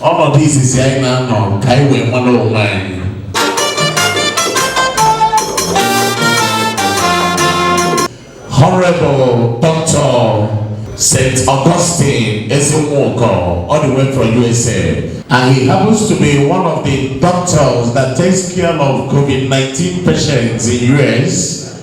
ọnọdụ izizi anyị na-anọ ka anyị wee mara onwe anyị Honorable Dr. St. Augustine Ezinwoko, all the way from USA. And he happens to be one of the doctors that takes care of COVID-19 patients in US.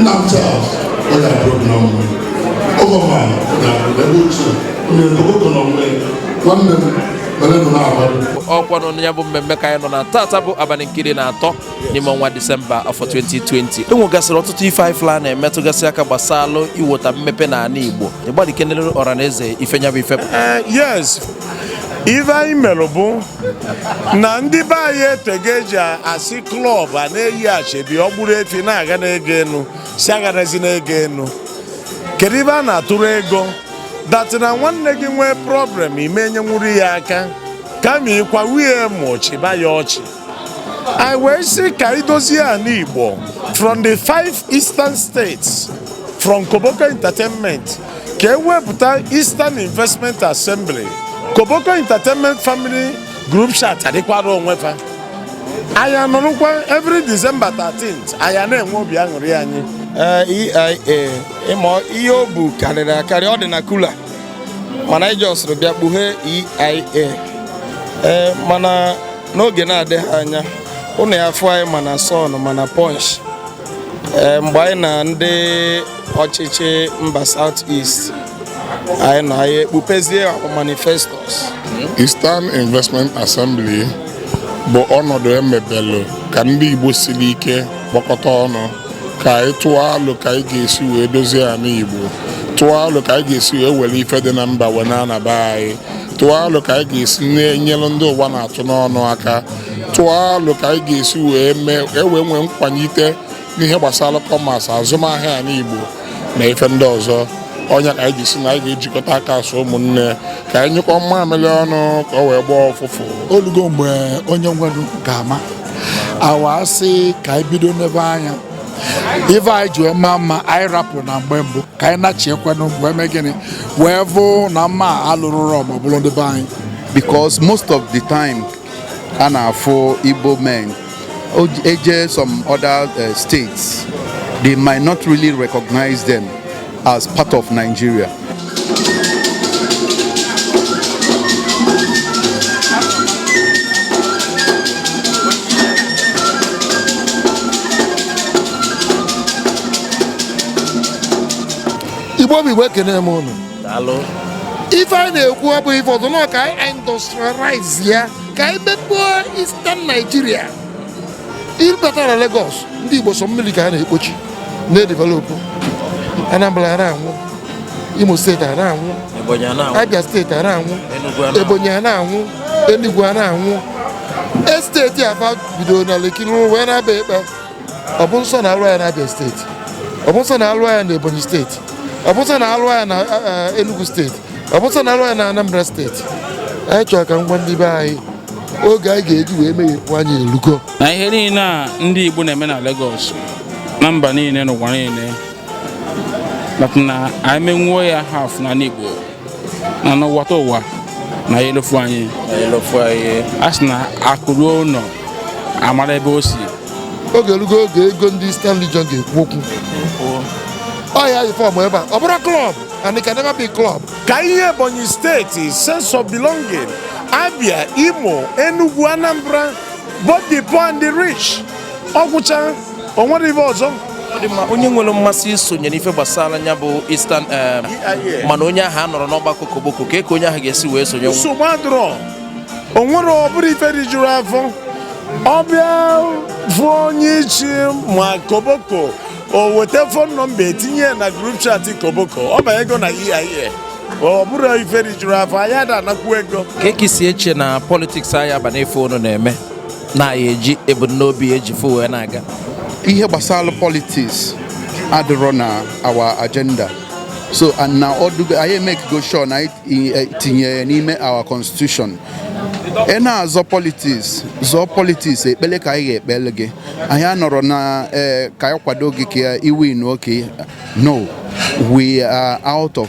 nna m Charles ọ ya bụrụ na ọnwụ oge ọma na ebe ochie onye ndogogo na ọnwụ nwanne m mere nụ na-abalị ọkwa na nya bụ mmemme ka anyị nọ na tata bụ abalị nke iri na atọ n'ime ọnwa disemba afọ 2020 enwegasịrị ọtụtụ ife anyị fụlụ na-emetụgasị aka gbasalụ iwota mmepe na ala igbo ịgbalị kenere ọra na eze ife nya bụ ife yes ife anyị mere bụ na ndị be anyị etego eji asị club a na-eyi asoebi o gburu efi na-aghani ego enu sị aghanizina ego enu kedu ibe a na-atụrụ ego that na nwanne gị nwee problem ị ma enyenwuru ya aka kama ị kwawa ya emu chịba ya ọchị anyị wee sị ka idozie anị Igbo from the five eastern states from Koboko Entertainment ka e wepụta Eastern Investment Assembly Koboko Entertainment Family Group Chat adịkwara onwe fa anyị anọrọkwa every December 13th anyị na-enwe obi aṅụrị anyị EIA eh, e ịma ihe o bu karịrị akarị ọ dị na cooler mana anyị jọsịrị bịa kpughee EIA ee eh, mana n'oge na-adịghị anya ụnụ ya-afụ anyị ma na Sun ma na Punch eh, mgbe anyị na ndị ọchịchị mba South East anyị nọ anyị ekpupezie manifestos Eastern Investment Assembly bụ ọnọdụ emebelụ ka ndị Igbo siri ike kpokọta ọnụ ka anyị tụọ alo ka anyị ga-esi wee dozie anị Igbo tụọ alo ka anyị ga-esi wee were ife dị na mba wee na-ana be anyị tụọ alo ka anyị ga-esi na-enyere ndị ụwa na-atụ n'ọnụ aka tụọ alo ka anyị ga-esi wee mee e wee nwee nkwanite n'ihe gbasara commerce azụmahịa anị Igbo na ife ndị ọzọ ọ nya ka anyị ji sị na anyị ga-ejikọta aka as ụmụnne ka anyị nyụkọ mmamịrị ọnụ ka o wee gbaa ụfụfụ o lugo mgbe onye nwere ga-ama awa asị ka anyị bido na be anyị ife anyị ji wee maa mma anyị rapụ na mgbe mbụ ka anyị nachiekwanụ wee mee gịnị wee vụ na mma alụrụrọ ma ọ bụrụ ndị be anyị because most of the time a na-afụ Igbo men eje some other uh, states they might not really recognize them as part of Nigeria. Igbo bụ Igbo ekene m unu ife anyị na-ekwu ọ bụ ife ọzọ na ka anyị industrialize ya ka anyị mepee Eastern Nigeria ị bata na Lagos ndị Igbo sọ mmili ka a na-ekpochi na-edevelopụ Anambra a na-anwụ Imo steeti a na-anwụ Abia steeti a na-anwụ Ebonyi a na-anwụ Enugu a na-anwụ esteti afa bidoro na Lekki wee na-aba Epe ọ bụ nsọ na a lụa ya n'Abia steeti ọ bụ nsọ na a lụa ya n'Ebonyi steeti ọ bụ nsọ na a lụa ya na Enugu steeti ọ bụ nsọ na a lụa ya na Anambra steeti anyị chọrọ ka m gwa ndị be anyị oge anyị ga-eji wee meghepụ anya elugo na ihe niile a ndị Igbo na-eme na Lagos na mba niile n'ụwa niile na anyị menwuo ya haf n'ana Igbo na n'ụwata ụwa na ya elofu anyị a sị na akụ ruo ụnọ a mala ebe o si oge elugo oge ego ndị Eastern Region ga-ekwu okwu ọ ya fọm ebe a ọ bụrọ klọb and it can never be club. ka e nye Ebonyi steeti sense of belonging Abia Imo Enugu Anambra both the poor and the rich ọ gwụcha o nwere ife ọzọ dị mma onye nwere mmasị isonye n'ife gbasara nya bụ Eastern eh, e mana onye ahụ anọrọ n'ọgbakọ Koboko kee ka onye ahụ ga-esi wee sonye nsogbu adịrọ o nwere ọ bụrụ ife rijuru afọ ọ bịa fụ onye ichi ma Koboko o weta fon nọmba e tinye na grup chat Koboko ọ banyego na EIA ọ bụrụ ife rijuru afọ anyị ada anakwu ego ka eke si eche na politiks anyị aba n'ife unu na-eme na anyị eji ebumnobi eji fụ wee na-aga ihe gbasara politiks adịrọ na our agenda so and na ọ dụgo anyị emekigo sure na anyị eh, tinyere ya n'ime our constitution ị na-azọ politiks zọọ politiks ekpele ka anyị ga-ekpele gị anyị anọrọ na eh, ka anyị kwado gị ka i win okay no we are out of